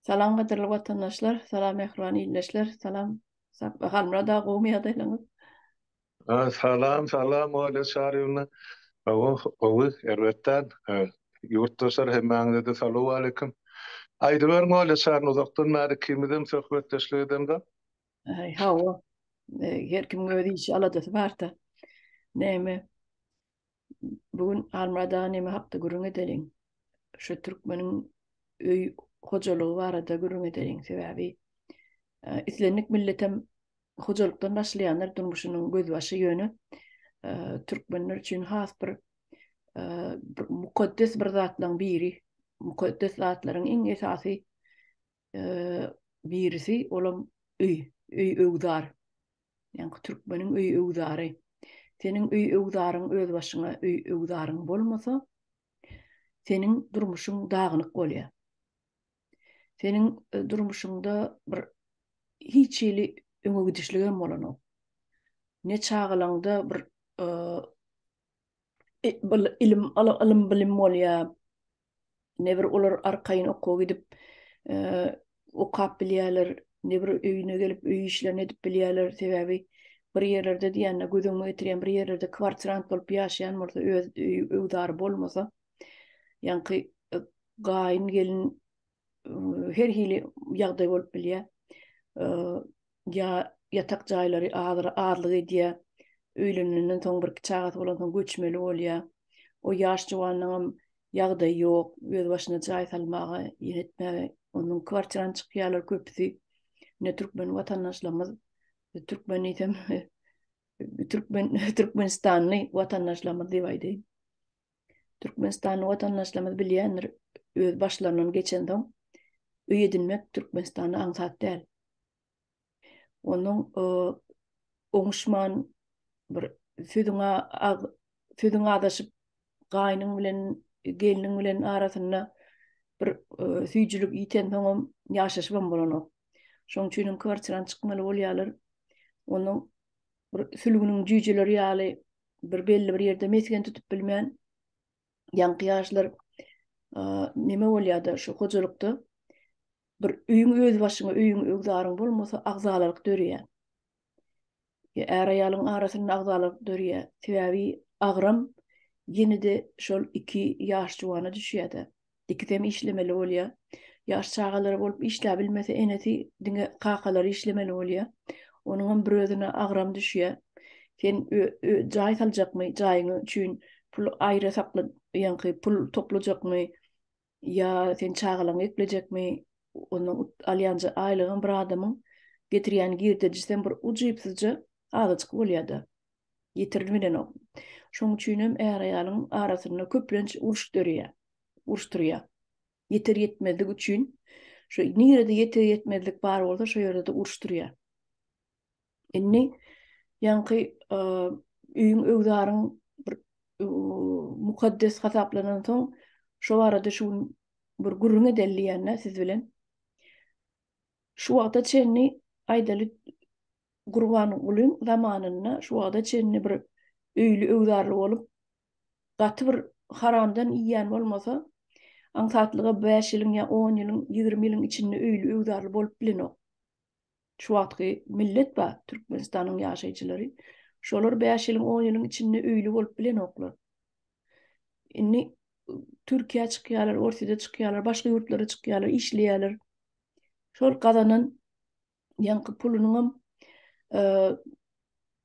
Salam gadyrly watandaşlar, salam mähriban ildeşler, salam Sapba Halmurad aga gowymy ýagdaýlaryňyz? Salam, salam Olýa Çaryýewna. Gowy, gowy, erbetdä. Ýurtdaşlar hemmäňize-de salowaleýkim. Aýdyberiň Olýa Çaryýewna, uzakdan bäri ikimizem söhbetdeşlik edemzok. Hawa, her kimiň öz işi, aladasy barda. Näme, Bu gün Almyrat aga näme hakda gürrüň edeliň? Şu türkmeniň öý hojalygy barada gürrüň edeliň. Sebäbi islendik milletem hojalykdan başlaýanlar durmuşynyň gözbaşy ýöne türkmenler üçin has bir mukaddes bir zatlaryň biri. Mukaddes zatlaryň iň esasy birisi olam öý, öý öwzar. Ýaňky türkmeniň öý öwzary. Seniň öý öwzaryň öz başyňa öý öwzaryň bolmasa, seniň durmuşyň dagynyk bolýar. Seniň e, durmuşyňda bir hiç hili öňe gidişligem bolanok. Ne çagalaňda bir e, ilim ylym bilim bolýa ne bir olar arkaýyn okuwa gidip okap bilýärler ne bir öýüne gelip öý işlerini edip bilýärler sebäbi bir ýerlerde diýende göz öňüme getirýän bir ýerlerde kwartirant bolup ýaşaýan bolsa öz öý öwdary bolmasa ýaňky gaýyn gelin her hili ýagdaý bolup bilýär. Ýa ýatak jaýlary azyra azlyk edýär. Öýlenenden soň bir çagasy bolan soň göçmeli bolýar. O ýaş juwanyň hem ýagdaýy ýok, öz başyna jaý salmaga, ýer etmäge. Onuň kwartirany çykýarlar köpüsi. Ine türkmen watandaşlarymyz, türkmen diýsem, türkmen türkmenistanly watandaşlarymyz diýip aýdaýyn. Türkmenistanly watandaşlarymyz bilýändir, öz başlaryndan geçensoň, öý edinmek Türkmenistanda aňsat däl. Onuň oňuşman bir sözüňe sözüň azaşyp, gaýnyň bilen, gelniň bilen arasynda bir süýjülik ýitensoňam ýaşaşybam bolanok. Şonuň üçinem kwartirany çykmaly bolýarlar. Onuň bir sülgüniň jüýjeleri ýaly bir belli bir ýerde mesgen tutup bilmän, ýaňky ýaşlar neme bolýar-da şu hojalykda bir öýüň öz başyňa, öýüň ögzaryň bolmasa agzalalyk dörýär. Är-aýalyň arasynda agzalalyk dörýär. Sebäbi agram ýene-de şol iki ýaş juwana düşýär-de. Ikisem işlemeli bolýar. Ýaş çagalary bolup işläbilmese enesi diňe kakalary işlemeli bolýar. Onuňam bir özüne agram düşýär. Sen jaý saljakmy, jaýyňy üçin pul aýra sakla, ýaňky pul toplajakmy ýa sen çagalaňy eklejekmi, ondan alýan aýlygyň bir adamyň getirýän girdejisem bir ujypsyzja azajyk bolýar-da. Ýitirilip bilenok. Şonuň üçin hem är-aýalyň arasynda köplenç uruş döreýär, uruş turýar. Ýeter-ýetmezlik üçin şu nirede ýeter-ýetmezlik bar bolsa, şo ýerde-de uruş turýar. Indi ýaňky öýüň öwzaryň bir mukaddes hasaplanan soň, şo barada şu gün bir gürrüň edeli diýýän-dä siz bilen. Şu wagta çenli aýdaly Gurbangulyň zamanynda şu wagta çenli bir öýli öwzarly bolup, gaty bir haramdan iýýän bolmasa, aňsatlyga bäş ýylyň ýa on ýylyň, ýigrimi ýylyň içinde öýli öwzarly bolup bilenok. Şu wagtky millet bar, Türkmenistanyň ýaşaýjylary. Şolar bäş ýylyň, on ýylyň içinde öýli bolup bilenoklar. Indi Türkiýä çykýarlar, Orsýede çykýarlar, başga ýurtlara çykýarlar, işleýärler. Şol gazanan ýaňky pulunyňam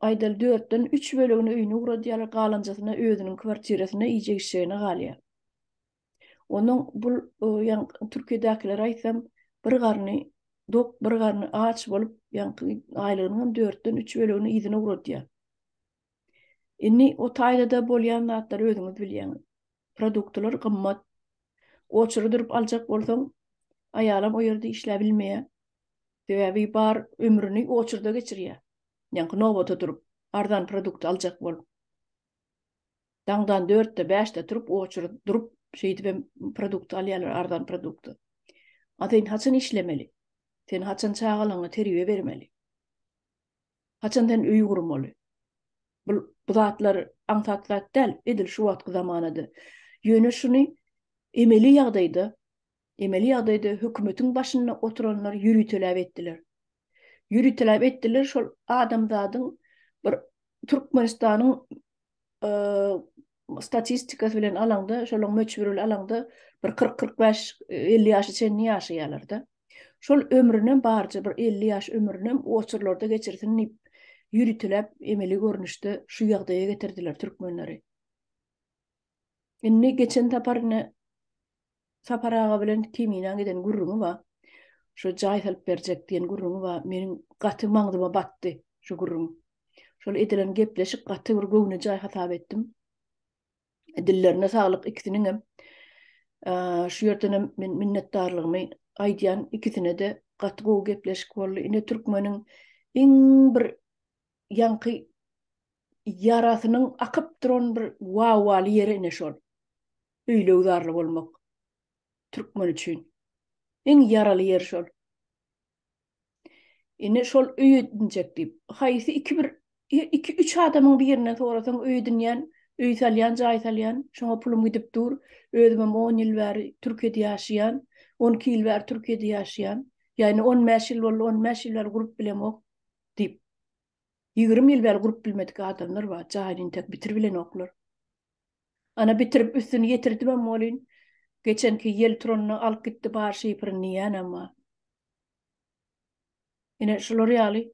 aýdaly dörtden üç bölegini öýüne ugradýarlar, galanjasyna özüniň kwartirasynda iýjek-içjegine galýar. Onuň bul ýaňky Türkiýedäkilere aýtsam, bir garny dok, bir garny aç bolup, ýaňky aýlygynyňam dörtden üç bölegini yzyna ugradýar. Indi o taýda-da bolýan zatlary özüňiz bilýäňiz. Produktlar gymmat. Oçury durup aljak bolsaň, aýalam o ýerde işläp bilmeýär. Sebäbi bar ömrüni oçurda geçirýär. Ýaňky nobata durup, arzan produkt aljak bolup. Daňdan dörtde, bäşde turup, oçury durup, şeýdip hem produkt alýarlar, arzan produkty. A sen haçan işlemeli? Sen haçan çagalaňa terbiýe bermeli? Haçan sen öýi gurmaly? Bul bu zatlar aňsat zat däl, edil şu wagtky zamanada. Ýöne şuny emeli ýagdaýda, emeli ýagdaýda hökümetiň başynda oturanlar ýöriteläp etdiler. Ýöriteläp etdiler, şol adamzadyň bir Türkmenistanyň statistikasy bilen alaňda, şolaň möçberi bilen alaňda bir 40-45-50 ýaşa çenli ýaşaýarlar-da. Şol ömrünem barja bir 50 ýaş ömrünem oçurlarda geçirsin diýip, ýürütiläp, emeli görnüşde şu ýagdaýa getirdiler türkmenleri. Indi geçen sapar ine Sapar aga bilen Kemina giden gürrüňi bar. Şo jaý salyp berjek diýen gürrüňi bar. Meniň gaty maňzyma batdy şu gürrüň. Şol edilen gepleşik gaty bir göwnejaý hasap etdim. Dillerine saglyk ikisiniňem. Şu ýerdenem men minnetdarlygymy aýdýan ikisine-de. Gaty gowy gepleşik boldy. Ine türkmeniň iň bir ýaňky ýarasynyň akyp duran bir wawaly ýeri ine şol. Öýleüzarly bolmak türkmen üçin iň ýaraly ýeri şol. Indi şol öý edinjek diýip, haýsy iki bir iki üç adamyň birinden sorasaň öý edinýän, öý salýan, jaý salýan, şoňa pulum gidip dur, özümem on ýyl bäri Türkiýede ýaşaýan, on iki ýyl bäri Türkiýede ýaşaýan, ýa indi on bäş ýyl boldy, on bäş ýyl bäri gurup bilemok diýip, ýigrimi ýyl bäri gurup bilmedik adamlar bar, jaýyny intek bitirip bilenoklar. Ana bitirip üstüni ýetirdimem welin, geçenki ýel turanyny alyp gitdi bar şifryn diýýänem bar. Ine şular ýaly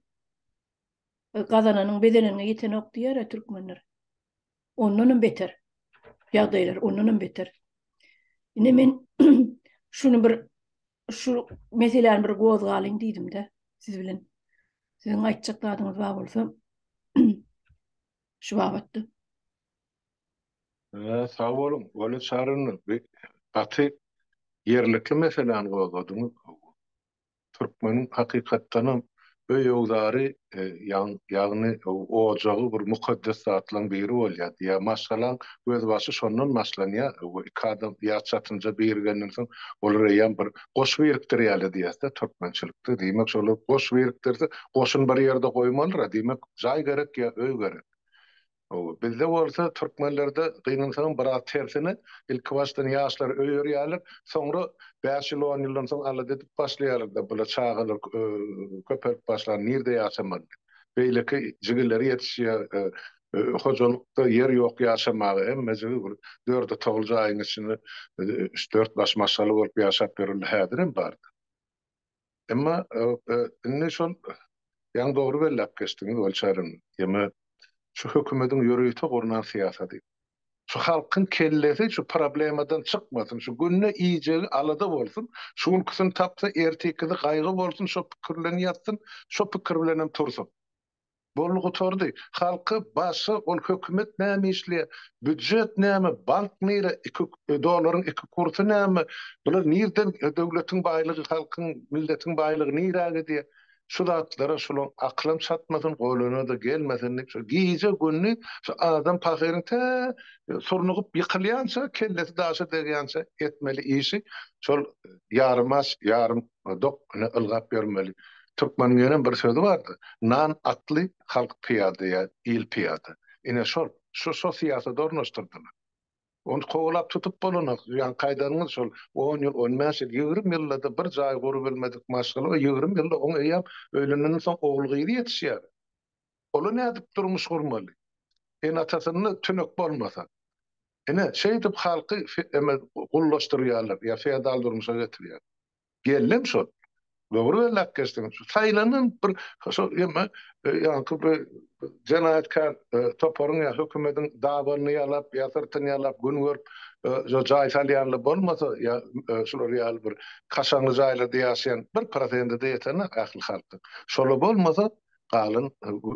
gazananyň bezeneniňe ýetenok diýýärä türkmenler. Ondanam beter ýagdaýlar, ondanam beter. Ine men şuny bir şu meseläni bir gozgalyň diýdim-de siz bilen. Siziň aýtjak zadyňyz bar bolsa şu babatda. Sag boluň, Wale Çarynow, gaty ýerlikli meseläni gozgadyňyz. Türkmeniň hakykatdanam öý-öwzary, ýagny ojagy bir mukaddes zatlaryň biri bolýar. Diýýär, maşgalaň gözbaşy şondan başlanýar. Iki adam ýaş çatynja birigenden soň, olar eýýäm bir goş birikdirýärler diýýäs-dä türkmençilikde. Diýmek, şolar goş birikdirse, goşuny bir ýerde goýmalydyr-a. Diýmek, jaý gerek ýa öý gerek. Hawa, bizde bolsa türkmenlerde gynansaňam biraz tersine, ilki başdan ýaşlary öýerýärler, soňra bäş ýyl, on ýyldan soň alada edip başlaýarlar-da, bula çagalar köpelip başlar, nirde ýaşamaly diýip. Beýleki jigilleri ýetişýär, hojalykda ýer ýok ýaşamaga, hemmejigi bir dörde-togul jaýyň içinde üç-dört baş maşgala bolup ýaşap ýörler, häzirem bar-da. Emma indi şol ýaňy dogry belläp geçdiňiz Weli Çary. Ýeme şu hökümediň ýörite gurnan syýasaty. Şu halkyň kellesi şu problemadan çykmasyn, şu günde iýjegi alada bolsun, şu günküsini tapsa ertikisi gaýgy bolsun şo pikir bilen ýatsyn, şo pikir bilenem tursun. Boldy gutardy. Halky başga ol hökümet näme işleýä, býujet näme, bank nire, iki dolaryň iki kursy näme, bular nirden döwletiň baýlygy halkyň milletiň baýlygy nirä gidýä, şu zatlara şulaň akylam çatmasyn, goluna-da gelmesin diýip şo gije gündiz şu adam pahyryň tä surnugyp ýykylýança kellesi daşa degýänçä etmeli işi şol ýarym aç ýarym Ol dok, ine ylgap ýörmeli. Türkmeniňenem bir sözi bardy, Nan atly, halk pyýada ýa il pyýada. Ine şol, şu şo syýasat ornaşdyrdylar. Ony kowalap tutup bolanok. Ýa gaýdanyňyz şol on ýyl, on bäş ýyl, ýigrimi ýylda-da bir jaý gurubilmedik maşgala, o ýigrimi ýylda oň eýýäm öýlenenden soň ogul-gyzy ýetişýär. Ola nädip durmuş gurmaly? Ene-atasynda tünek bolmasa. Ine, şeýdip halky gullaşdyrýarlar, ýa feodal durmuşa getirýär. Gelnem şol. Dogry belläp geçdiň. Şu saýlanan bir şo ýa-da ýaňky bir jenaýatkär toparyň ýa hökümediň dabanyny ýalap, ýa syrtyny ýalap, gün görüp şo jaý salýanlar bolmasa, ýa şular ýaly bir kaşaňly jaýlarda ýaşaýan bir prosenti-de ýetenok ähli halkyň. Şola bolmasa, galan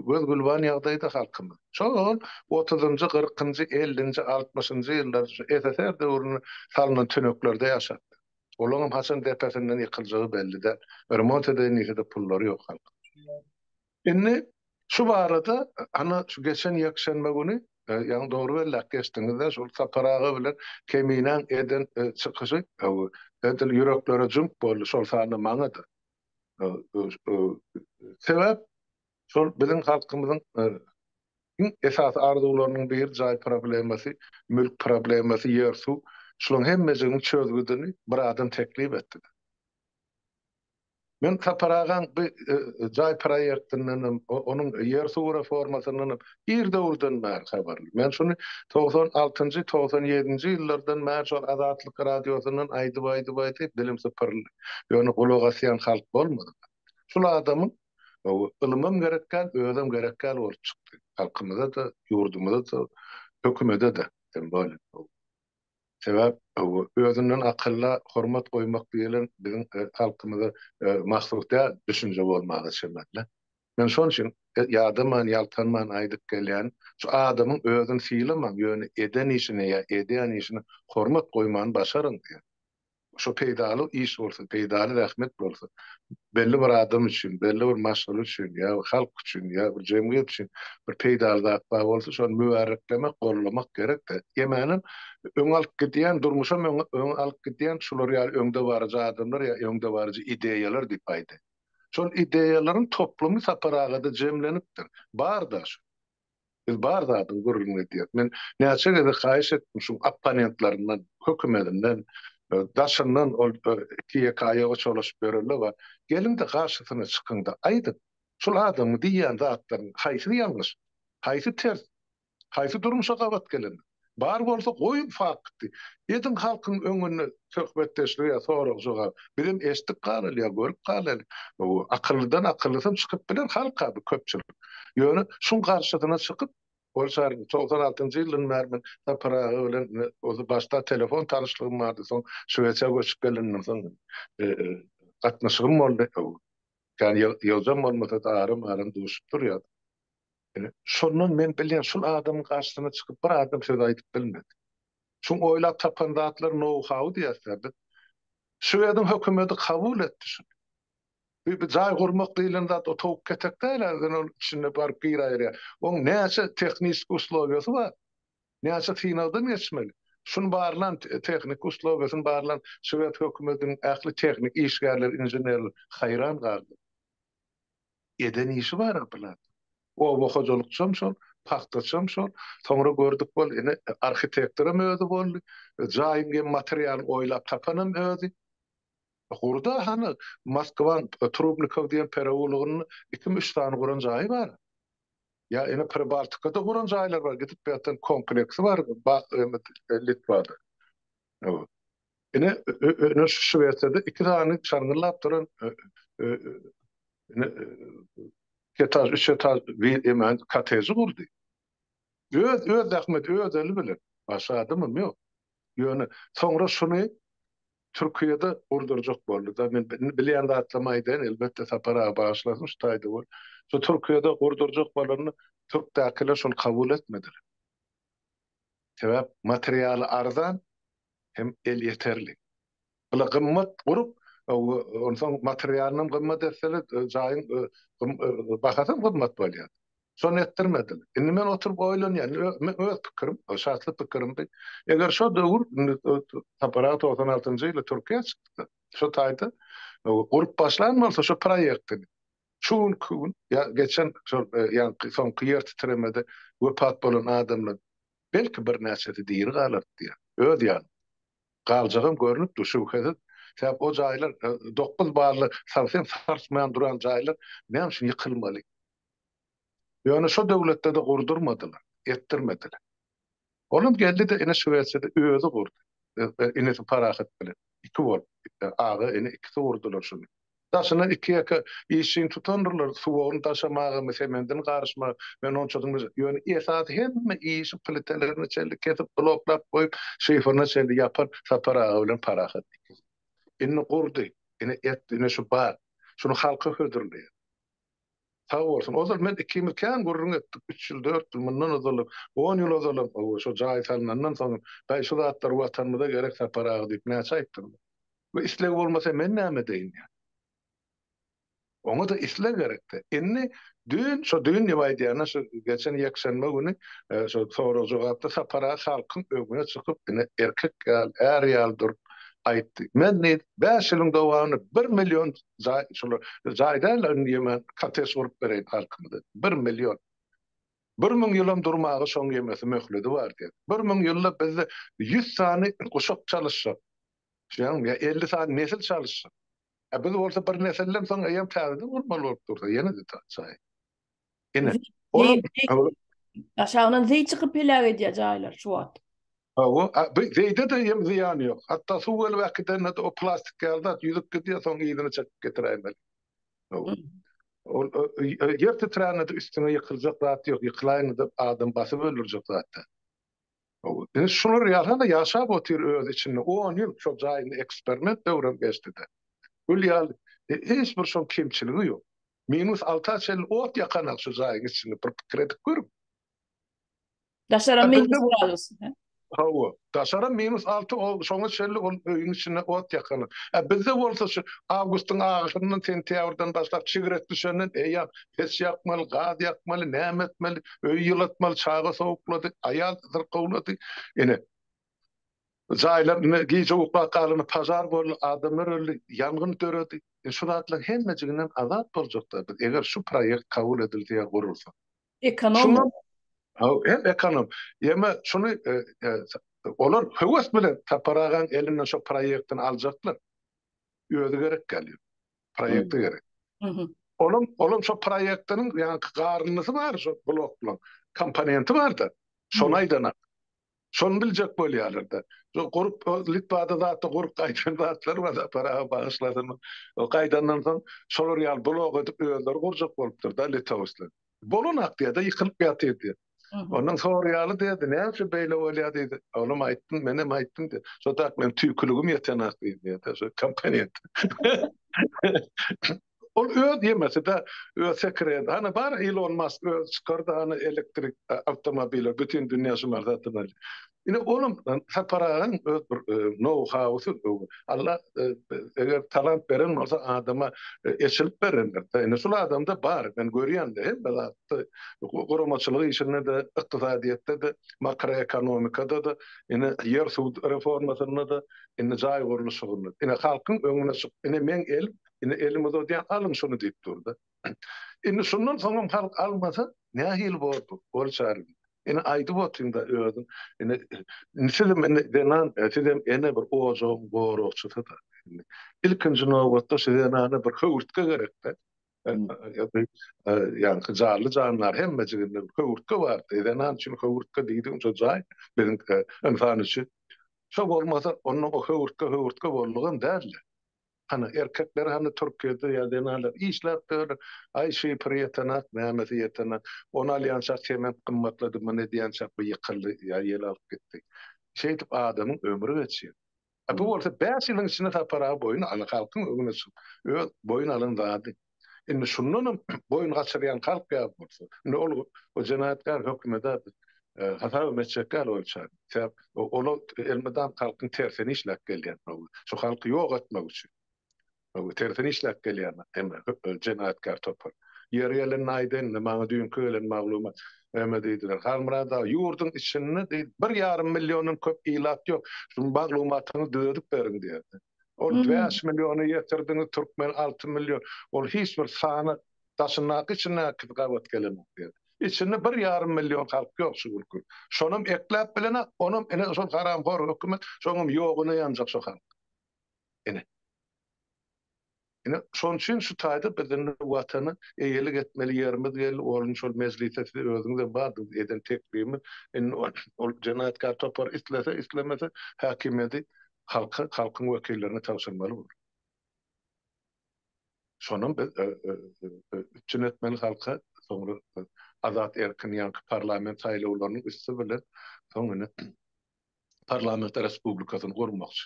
göz-gülban ýagdaýda halkymyz. Şol otuzynjy, kyrkynjy, ellinji, altmyşynjy ýyllar şu SSR döwründe salnan tüneklerde ýaşapdyr. Olaňam haçan depesinden ýykyljagy belli däl. Remont edeýin diýse-de pullary ýok halkyň. Indi şu barada ana şu geçen ýekşenbe güni, ýagny dogry belläp geçdiňiz-de, şol Sapar aga bilen Keminäň eden çykyşy edil ýüreklere jüňk boldy, şol sanda maňa-da. Sebäp şol biziň halkymyzyň iň esasy arzuwlarynyň biri jaý problemasy, mülk problemasy, ýer-suw. Şularyň hemmejigiň çözgüdini bir adam teklip etdi. Men Sapar agaň bu jaý proýektinden hem, onuň ýer-suw reformasyndan hem Ir döwürden bäri habarly. Men şuny togsan altynjy, togsan ýedinji ýyllardan bäri şol Azatlyk radiosyndan aýdyp, aýdyp, aýdyp dilim sypyryldy. Ýöne gulak asýan halk bolmady. Şul adamyň ylymam gerek däl, özem gerek däl bolup çykdy. Halkymyza-da, ýurdumyza-da, hökümede-de hem bolýa bu. Sebäp özünden akylla hormat goýmak diýlen biziň halkymyza mahsus däl düşünje bolmaga çemeli. Men şon üçin ýadaman, ýaltanman aýdyp gelýän, şu adamyň özüni sylamaň, ýöne eden işine ýa edýän işine hormat goýmany başaryň diýen. Şo peýdaly iş bolsa, peýdaly zähmet bolsa, belli bir adam üçin, belli bir maşgala üçin ýa bir halk üçin ýa bir jemgyýet üçin bir peýdaly zat bar bolsa, şony mübäreklemek, gollamak gerek-de. Ýemänem, öňe alyp gidýän, durmuşam öňe alyp gidýän şular ýaly öňdebaryjy adamlar ýa öňdebaryjy ideýalar diýip aýdaýyn. Şol ideýalaryň toplumy Sapar agada jemlenipdir. Bar-da şu. Biz bar zadyň gürrüňini edýäris. Men näçe gezek haýyş etdim şuň opponentlaryndan, hökümedinden, daşyndan ol iki-ýeke aýaga çolaşyp ýörenler bar. Geliň-de garşysyna çykyň-da, aýdyň, şol adamyň diýýän zatlarynyň haýsy ýalňyş, haýsy ters, Haýsy durmuşa gabat gelen? Bar bolsa goýuň fakty. Ediň halkyň öňünde söhbetdeşlik ýa sorag jogap. Bizem eşitdik galaly ýa görüp galaly. Akyllydan akyllysam çykyp biler halka bu köpçülik. Ýöne şuň garşysyna çykyp Ol şahyryň togsan altynjy ýyldan bäri men Sapar aga bilen ozi başda telefon tanyşlygym bardy soň Şwesiýa göçüp gelenden soň gatnaşygym boldy. Kän ýygjam bolmasa-da aram-aram duşup durýas. Şondan men bilýän, şul adamyň garşysyna çykyp bir adam söz aýdyp bilmedi. Şuň oýlap tapan zatlary nou-hau diýersiler biz. Şwediň hökümeti kabul etdi şuny. Bir jaý gurmak diýlen zat o towuk ketek däl ä, ýöne ol içinde baryp gir-aýyrýar. Oň näçe tehniki uslowiýasy bar. Näçe synagdan geçmeli. Şuny barlan tehniki uslowiýasyny barlan şwed hökümetiniň ähli tehniki işgärleri, inženerler haýran galdy. Eden işi bar-a Pylanyň. Oba hojalykçam şol, pagtaçam şol. Soňra gördük bol, ine, arhitektoram özi boldy. Jaýyň hem materialyny oýlap tapanam özi. Gurda hany, Moskwaň Trubnikow diýen pereulogynda ikimi-üç sany guran jaýy bar. Ýa, ine, Pribaltikada guran jaýlar bar, gidip ýatan kompleksi bar, Litwada. Ine, öne şu wertede iki sany şaňňyllap duran etaž, üç etaž bir eman koteji gurdy. Öz, öz zähmeti, öz eli bilen. Başga adamam ýok. Ýöne soňra şuny Türkiýede gurdurjak boldy-da. Men bilýän zatlarymy aýdaýyn, elbetde Sapar aga bagyşlasyn şu taýda bolup. Şu Türkiýede gurdurjak bolanda türkdäkiler şuny kabul etmediler. Sebäp materialy arzan, hem elýeterli. Bula gymmat gurup, onsoň materialynam gymmat etseler, jaýyň bahasy hem gymmat bolýar. Şony etdirmediler. Indi men oturyp oýlanýan, meň öz pikirim, şahsy pikirimdi. Eger şo döwür, Sapar aga togsan altynjy ýyly Türkiýä çykdy-da, şo taýda gurup başlan bolsa şo proýektini, şu günki gün ýa geçen şol ýaňky soňky ýer titremede wepat bolan adamlar Belki, birnäçesi diri galar, diýýär. Öz ýanyň. Galjagam görnüp dur, şübhesiz. Sebäp o jaýlar, dokuz bally salsam sarsmaýan duran jaýlar näme üçin ýykylmaly? Ýöne şo döwletde-de gurdurmadylar, etdirmediler. Olam geldi-de, ine, Şwesiýada özi gurdy. Inisi Parahat bilen iki bolup, aga-ini ikisi gurdular şuny. Daşyna iki-ýeke işjeň tutandyrlar, suwagyny daşamagamy, semendini garyşma, men onçadan bejer. Ýöne esasy hemme işi plitelerine çenli kesip, bloklap goýup, şifrine çenli ýapan Sapar aga bilen Parahat ikisi. Indi gurdy, ine et, ine şu bar. Şuny halka hödürleýär. Sag bolsun. Ozal men ikimiz kän gürrüň etdik. Üç ýyl, dört ýyl mundan ozalam, on ýyl ozalam, hawa, şo jaý salnandan soň hem, Daýy, şu zatlar Watanymyza gerek, Sapar aga diýip näçe aýtdym. We isleg bolmasa men näme edeýin ýa. Oňa-da isleg gerek-dä. Indi düýn, şo düýn diýip aýdýan-a, şu geçen ýekşenbe güni şo sorag-jogapda Sapar aga halkyň öňüne çykyp, ine, erkek ýaly, är ýaly durup aýtdy. Men, diýdi, bäş ýylyň dowamynda bir million jaý şolar jaý däl indi ýeme kottej gurup bereýin halkymyza bir million bir müň ýylam durmaga şoň ýemesi möhledi bar diýen bir müň ýylda bizde ýüz sany guşak çalyşjak şuýam ýa elli sany nesil çalyşjak a biz bolsa bir nesildem soň eýýam täzeden gurmaly bolup dursa ýene-de jaý Ine. Aşagyndan zeý çykyp heläk edýär jaýlar şu wagt. Hawa, bir zeýde-de hem zyýany ýok. Hatda suw gelip äkidende-de o plastik ýaly zat ýüzüp gidýär, soň yzyny çekip getiräýmeli. Hawa. Ol ýer titrände-de üstüňe ýykyljak zat ýok, ýykylaýyňda-da adam basyp öldürjek zat däl. Hawa. Ine şular ýaly-da ýaşap otyr öz içinde. On ýyl şol jaýynda eksperiment döwrem geçdi-de. Gül ýaly, hiç bir şoň kemçiligi ýok. Minus alta çenli ot ýakanok şu jaýyň içinde bir pikir edip görüň. Daşaram minus gradus. Hawa, daşaram minus alty ol şoňa çenli ol öýüň içinde ot ýakanok. Ä bizde bolsa şu awgustyň ahyryndan sentýabrdan başlap çigret düşenden eýýäm peç ýakmaly, gaz ýakmaly, näme etmeli, öýi ýylatmaly, çaga sowuklady, aýal syrkawlady. Ine. Jaýlar ine gije uklap galany pažar boldy, adamlar öldi, ýangyn döredi. Ine şu zatlaryň hemmejiginden azat boljakda biz eger şu proýekt kabul edilse ýa gurulsa. Ekonom bolup. Haw hem ekonom. Ýeme şuny olar höwes bilen Sapar agaň elinden şo proýektini aljaklar. Özi gerek galýar. Proýekti gerek. Olam olam şo proýektiniň ýaňky garynysy bar şo bloklaryň komponenti barda. Şony aýdana. Şony biljek bolýarlar-da. Şo gurup Litwada zatda gurup gaýdan zatlar bar, Paraha bagyşlasyn. O gaýdandan soň şolar ýaly blok edip özleri gurjak bolupdyr-da litowslar. Bolan aktiýada ýykylyp ýatyrdy. Ondan soraýaly diýdi, näme üçin beýle bolýar diýdi. Oglum aýtdym, menem aýtdym diýdi. Şo tak meň tüýküligim ýetenok diýdi diýdi. Şo kompaniýet. Ol öz ýemeside öz sekiredi. Hany bar Ilon Mask özi çykardy hany elektrik awtomobile bütin dünýä şular satyn alýa. Ine olam Sapar agaň öz bir now howsy Alla eger talant beren bolsa adama eçilip berendir. Ine şul adamda bar men görýän hemme zatda guramaçylyk işinde-de ykdysadyýetde-de makroekonomikada-da ine ýer suw reformasynda-da indi jaý gurluşygynda ine halkyň öňüne çyk ine meň elim Indi elini uzadýan, alyň şuny diýip dur-da. Indi şundan soňam halk almasa, nähili bor bu? Bol çaryň. Indi aýdyp otyň-da özüň. Indi sizem indi zenan, sizem ene bir ojagyň goragçysy-da. Indi ilkinji nobatda şu zenana bir höwürtge gerek-dä. Ýaňky jarly jandar hemmejiginde bir höwürtge bardy. Zenan üçin höwürtge diýdigiň şo jaý biziň ynsan üçin. Şo bolmasa, onda o höwürtge höwürtge boldugam däldi. Ana, erkekler hany Türkiýede ýa zenanlar işläp döler, aý şifr ýetenak, nämesi ýetenak, ony alýançak sement gymmatlady, muny edýänçak bu ýykyldy ýa ýel alyp gitdi. Şeýdip adamyň ömri geçýär. A bu bolsa bäş ýylyň içinde Sapar aga boýun aly halkyň öňüne çykyp öz boýun alan zady. Indi şundanam boýun gaçyrýan kalp ýaly bolsa, indi ol jenaýatkär hökümede hasap hem etjek däl oýunça. Sebäp ol elmydam halkyň tersine işläp gelýän. Şu halky ýok etmek üçin. Tersine işläp gelýän hem jenaýatkär topar. Ýeri gelende aýdaýyn, maňa düýnki gelen maglumat, näme diýdiler, Halmyrat aga, ýurduň içinde diýdi, bir ýarym milliondan köp ilat ýok, şu maglumatyňyzy düzedip beriň diýerdi. Ol bäş milliony ýetirdiňiz, türkmen alty million. Ol hiç bir sany daşyndaky içindäki gabat gelenok diýen. Içinde bir ýarym million halk ýok şu günki. Şonam ekläp bilenok, onam ine şol haramhor hökümet, şoňam ýoguna ýanjak şo halk. Ine. Ine, şonuň üçin şu taýda biz indi Watana eýelik etmeli ýerimiz geldi. Ol indi şol mejlisde siz özüňiz-de bardyňyz, eden teklibimiz. Indi ol jenaýatkär topar islese, islemese, häkimiýeti halka, halkyň wekillerine tabşyrmaly bolar. Şonam biz üpjün etmeli halka, soňra azat, erkin ýaňky parlament saýlawlarynyň üsti bilen soň indi parlament respublikasyny gurmakçy.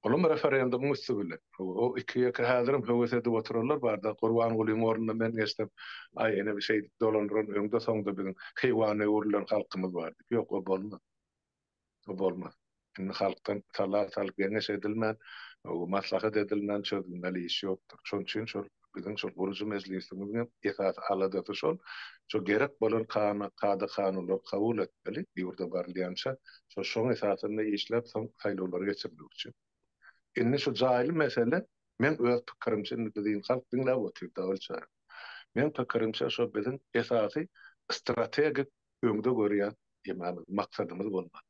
Olam referendumyň üsti bilen. O iki-ýeke häzirem höwes edip oturarlar barda, Gurbangulyň ornuna men geçsem, aý ene bir şeýdip dolandyran öňde-soňda biziň heýwana öwrülen halkymyz bar diýip. Ýok, o bolmaz. O bolmaz. Indi halkdan sala salyp geňeş edilmän, maslahat edilmän çözülmeli iş ýokdur. Şonuň üçin şol biziň şol gurujy mejlisimiziň hem esasy aladasy şol. Şo gerek bolan kana, kada-kanunlary kabul etmeli, bu ýurda barylýança. Şo, şoň esasynda işläp, soň saýlawlary geçirmek üçin. Indi şu jaýly mesele, meň öz pikirimçe, indi biziň halk diňläp otyr, dabyl çary. Meň pikirimçe, şo biziň esasy strategik öňde görýän emamyz, maksadymyz bolmaly.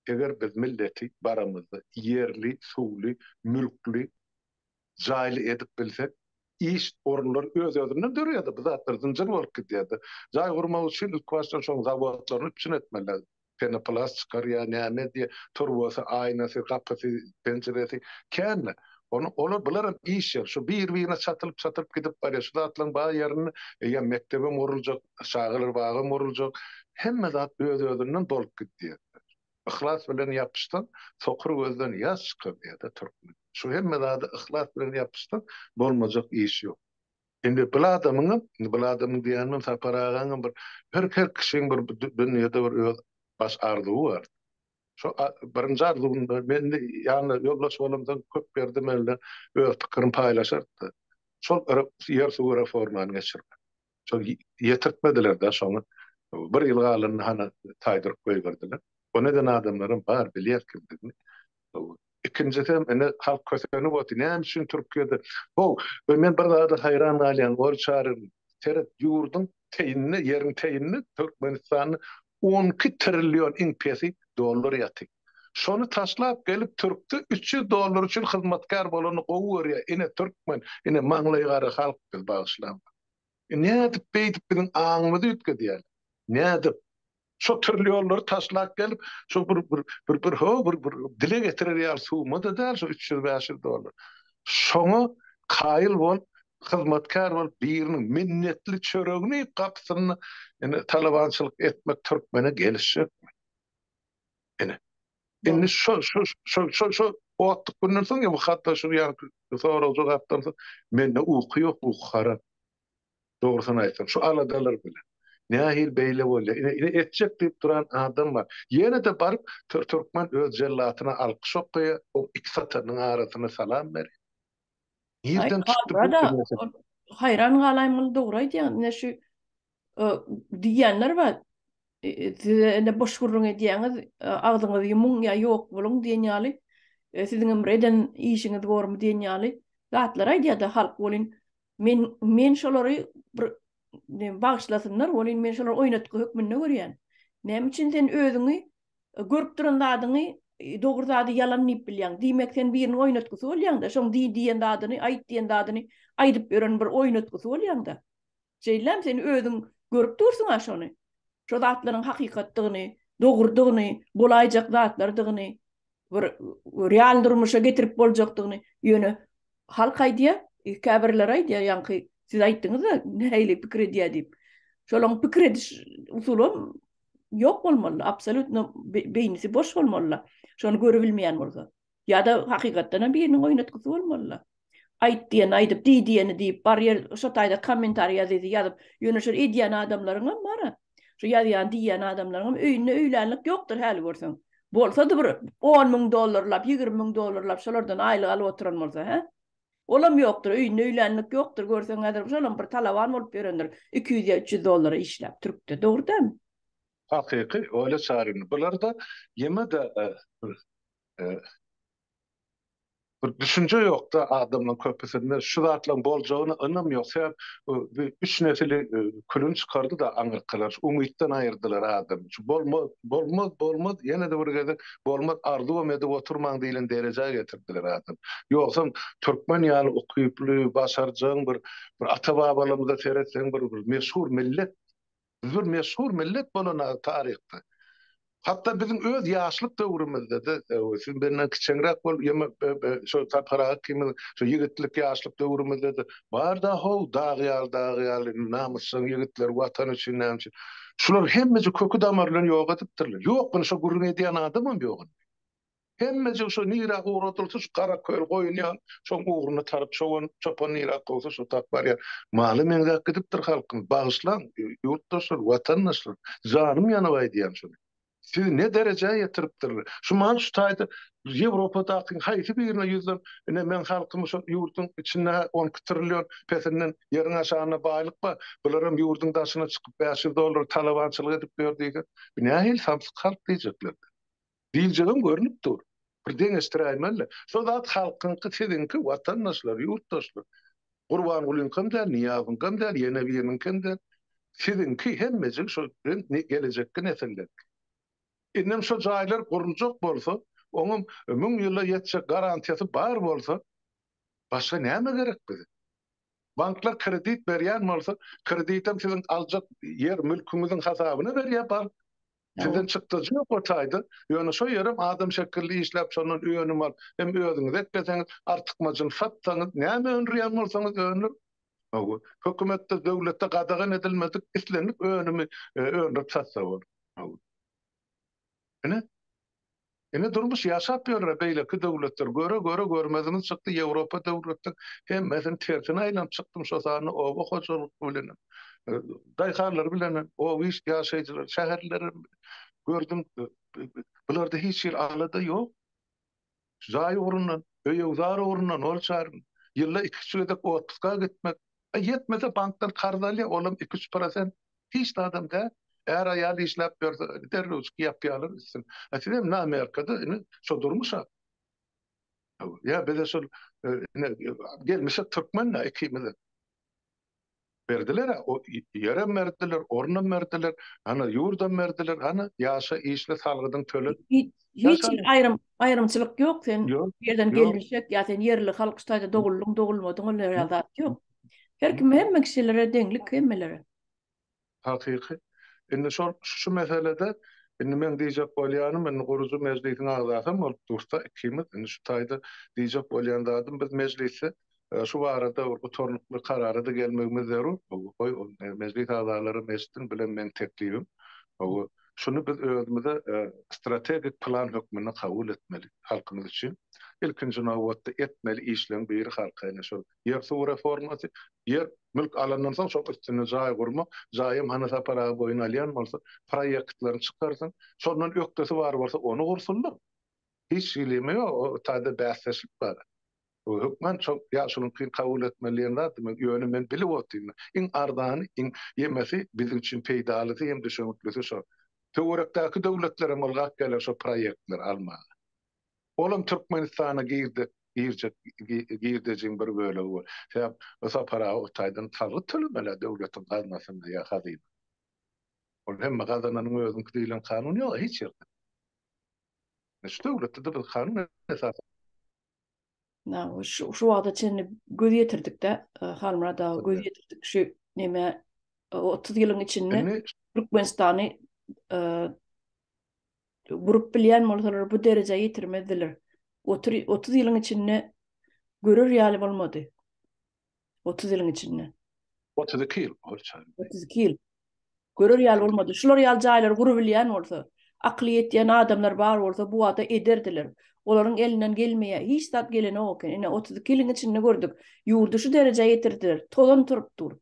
Eger biz milleti baramyzda ýerli, suwly, mülkli, jaýly edip bilsek, iş orunlary öz-özünden döreýärdi, bu zatlar zynjyr bolup gidýärdi. Jaý gurmak üçin ilkibaşdan şoň zawodlaryny üpjün etmelidir. Penoplast çykarýar, näme edýär, turbasy, aýnasy, gapysy, penjiresi, kände. Ony, olar, bular hem iş ýeri. Şu biri-birine çatylyp-çatylyp gidip barýar. Şu zatlaryň bar ýerinde eýýäm mekdebem guruljak, çagalar bagam guruljak. Hemme zat öz-özünden bolup gidýär. Yhlas bilen ýapyşsaň, sokur gözden ýaş çykar diýýär-dä türkmen. Şu hemme zada yhlas bilen ýapyşsaň, bolmajak iş ýok. Indi bil adamyňam, indi bil adamyň diýänim Sapar agaňam bir her her kişiň bir dünýede bir öz baş arzuwy bar. Şo birinji arzuwynda men indi ýanyna ýoldaş bolamsoň köp ýerde men bilen öz pikirini paýlaşardy-da. Şol ýer suwy reformany geçirmek. Şol ýetirtmediler-de şony. Bir ýyl galanda hany taýdyryp goýberdiler. Ony eden adamlaram bar, bilýär kimdigini. Ikinjisem indi halk kösenip otyr. Näme üçin Türkiýede? Ho, we men bir zada haýran galýan, Ol çary, seret, ýurduň teýinde, ýeriň teýinde Türkmenistanda on iki trillion iň pesi dollar ýatyr. Şony taşlap gelip türkde üç ýüz dollar üçin hyzmatkär bolany gowy görýär. Ine türkmen, ine maňlaýygara halk biz, bagyşlaň. Nädip beýdip biziň aňymyzy üýtgedýäler? Nädip? Şo türli ýollary taşlap gelip, şo bir bir bir bir ho bir bir dile getirer ýaly summa-da däl şo üç ýüz, bäş ýüz dollar. Şoňa kaýyl bolup, hyzmatkär bolup biriniň minnetli çöregini iýip gapysynda indi talabançylyk etmek türkmene gelişjekmi? Ene. Indi şu şu şu şu şu otduk günden soň ya bu hatta şu yani sorag jogapdan soň mende uky yok uky haram. Dogrusyny aýtsam şu aladalar bilen. Nähil beýle bolýa. Ine etjek diýip duran adam bar. Ýene de baryp türkmen öz jellatyna alkyş okaýa, o iki satanyň arasyna salam ber. Nirden çykdy bu? Haýran galaýmaly dogry aýdýaň. Ine şu diýenler bar. E, e, size ene boş gürrüň edýäňiz, e, agzyňyzy ýumuň ýa ýok boluň diýen ýaly, siziň hem eden işiňiz bormy diýen ýaly zatlar aýdýar-da halk welin men men şolary bir bagyşlasynlar welin men şolary oýnatgy hökmünde görýän. Näme üçin sen özüňi görüp duran zadyňy dogry zady ýalan diýip bilýäň. Diýmek sen biriniň oýnatgysy bolýaň-da, şoň diý diýen zadyny, aýt diýen zadyny aýdyp ýören bir oýnatgysy bolýaň-da. Jeýlem, sen özüň görüp dursuň-a şony. Şo zatlaryň hakykatdygyny, dogrudygyny, bolaýjak zatlardygyny, bir real durmuşa getirip boljakdygyny. Ýöne halk aýdýa, käbirleri aýdýa, ýaňky siz aýtdyňyz-a, nähili pikir edýä diýip. Şolaň pikir ediş usulam ýok bolmaly, absolýutno beýnisi boş bolmaly-la, şony görübilmeýän bolsa. Ýa-da hakykatdan hem biriniň oýnatgysy bolmaly-la. Aýt diýeni aýdyp, diý diýeni diýip, bar ýer şo taýda kommentariý ýazyjy ýazyp, ýöne şol edýän adamlaryň hem bar-a. Şu ýazýan, diýýän adamlaryň hem öýünde öýlänlik ýokdur häli görseň. Bolsa-da bir on müň dollarlap, ýigrimi müň dollarlap şolardan aýlyk alyp oturan bolsa, hä? Olam ýokdur, öýünde öýlänlik ýokdur, görseň häzir şolam bir talaban bolup ýörendir, iki ýüz ýa üç ýüz dollara işläp, türkde. Dogry dälmi? Hakyky, Olýa Çaryna. Bular-da ýene-de bir Bir düşünje ýokda adamlaň köpüsinde şu zatlaň boljagyna ynam ýok sebäp bi üç nesili külüni çykardyda aňyrkylar umytdan aýyrdylar adamy şu bolmaz bolmaz bolmaz ýenede bir gezek bolmaz arzuwam edip oturmaň diýlen derejä getirdiler adamy ýogsam türkmen ýaly ukyply başarjaň bir bir ata babalarymyza seretseň bir bir meşhur millet Biz bir meşhur millet bolanaga taryhda. Hatda biziň öz ýaşlyk döwrümizde-de, siz menden kiçeňräk bolup, ýa şo tapyraga kimin, şo ýigitlik, ýaşlyk döwrümizde-de bar-da, how, dag ýaly, dag ýaly namysjaň ýigitler, Watan üçin, näme üçin. Şular hemmesi köki-damaryny ýok edipdirler. Ýok, indi şo gürrüň edýän adamam ýok indi. Hemmejik şo nirä ugradylsa şu gara köl goýun ýaly şoň ugruna taryp çoban çopan nirä kowsa şo tap barýar. Mala meňzäp gidipdir halkym. Bagyşlaň, ýurtdaşlar, watandaşlar. Janym ýanyp aýdýan şuny. Sizi ne derejä ýetiripdirler. Şu mal şu taýda Ýewropadakyň haýsy birine ýüzlen. Ine meň halkym şo ýurduň içinde hä on iki trillion pesinden ýeriň aşagynda baýlyk bar. Bularam ýurduň daşyna çykyp bäş ýüz dollar talabançylyk edip ýör diýseň. Bu nähili samsyk halk diýjekler. Diýjegim görnüp dur. Bir deňeşdiräýmeli. Şo zat halkyňky, siziňki, watandaşlar, ýurtdaşlar. Gurbangulyňkam däl, Nyýazyňkam däl, ýene biriniňkem däl. Siziňki, hemmejigi şo gelejekki nesilleriňki. Indem şo jaýlar guruljak bolsa, oňam müň ýyla ýetjek garantiýasy bar bolsa, başga näme gerek bize? Banklar kredit berýän bolsa, kreditem siziň aljak ýer-mülküňiziň hasabyna berýär bank. Sizden çykdajy ýok o taýda. Ýöne şo ýerem adam şekilli işläp şondan önüm alyp, hem özüňiz ekleseňiz, artykmaçyny satsaňyz, näme öndürýän bolsaňyz öndüriň. Hawa, hökümetde, döwletde gadagan edilmedik islendik önümi öndürip satsa bolar. Hawa. Ine. Ine durmuş ýaşap ýörre beýleki döwletler göre göre görmezimiz çykdy ýewropa döwletler hemmesini tersine aýlanyp çykdym şo sanda oba hojalyk bilenem daýhanlar bilenem oba iş ýaşaýjylar şäherleri gördüm bularda hiç hili alada ýok jaý ugrundan öýügzar ugrundan ol çaryn ýylda iki üç gezek otpuska gitmek ýetmese bankdan karz alýa olam iki üç prosent Hiç zadam däl. Är-aýal işläp ýörse, derrewjik ýapýarlar üstüni. A siz hem namerkada indi şo durmuşa. Ýa bize şol ine gelmişik türkmen-dä ikimize. Berdiler-ä, ýerem berdiler, orunam berdiler, hany ýurdam berdiler, hany ýaşa, işle, salgydyňy töle. Hiç bir aýrym, aýrymçylyk ýok. Sen bu ýerden gelmişek ýa sen ýerli halk şu taýda doguldyň, dogulmadyň ol ýerde zat ýok. Her kim hemme kişilere deňlik hemmelere. Hakyky. Indi şol şu meselede indi meň diýjek bolýanym indi gurujy mejlisiň agzasam bolup dursa ikimiz indi şu taýda diýjek bolýan zadym biz mejlisde şu barada bir gutarnykly karara-da gelmegimiz zerur. Goý ol mejlis agzalaram eşitsin bilen meň teklibim. Goý şuny biz özümize strategik plan hökmünde kabul etmeli halkymyz üçin. Ilkinji nobatda etmeli işleň biri halka ine şol Ýer-suw reformasy, ýer, mülk alandan soň şoň üstünde jaý gurmak, jaýam hany Sapar aga boýun alýan bolsa, proýektlerini çykarsyn, şondan ökdesi bar bolsa ony gursunlar. Hiç hilem ýok, o taýda bäsdeşlik bar. Bu hökman şo ýaşulyňky kabul etmeli diýen zat, men ýöne men bilip otyryn, iň arzany, iň ýemesi biziň üçin peýdalysy hem düşeniklisi şo. Töwerekdäki döwletlerem ylgap geler şo proýektleri almaga. Olam Türkmenistana girdi, girjek girdejiň bir bölegi bol. Sebäp bu sapara o taýdan salgyt tölemeli-ä döwletiň gaznasyna ýa hazyna. Ol hemme gazananyň özüňki diýlen kanun ýok-a hiç ýerde. Şu döwletde-de biz kanun esasynda. Şu wagta çenli göz ýetirdik-de, Halmyrat aga, göz ýetirdik şu nämä, otuz ýylyň içinde Türkmenistany gurup bilýän bolsalar, bu derejä ýetirmezdiler. Otuz ýylyň içinde görer ýaly bolmady. 30 ýylyň içinde. 32 ýyl bolsa. 32 ýyl. Görer ýaly bolmady. Şular ýaly jaýlary gurup bilýän bolsa, akyly ýetýän adamlar bar bolsa bu wagta ederdiler. Olaryň elinden gelmeýär. Hiç zat gelenok eken. Ine 32 ýylyň içinde gördük. Ýurdy şu derejä ýetirdiler. Tozan turup dur.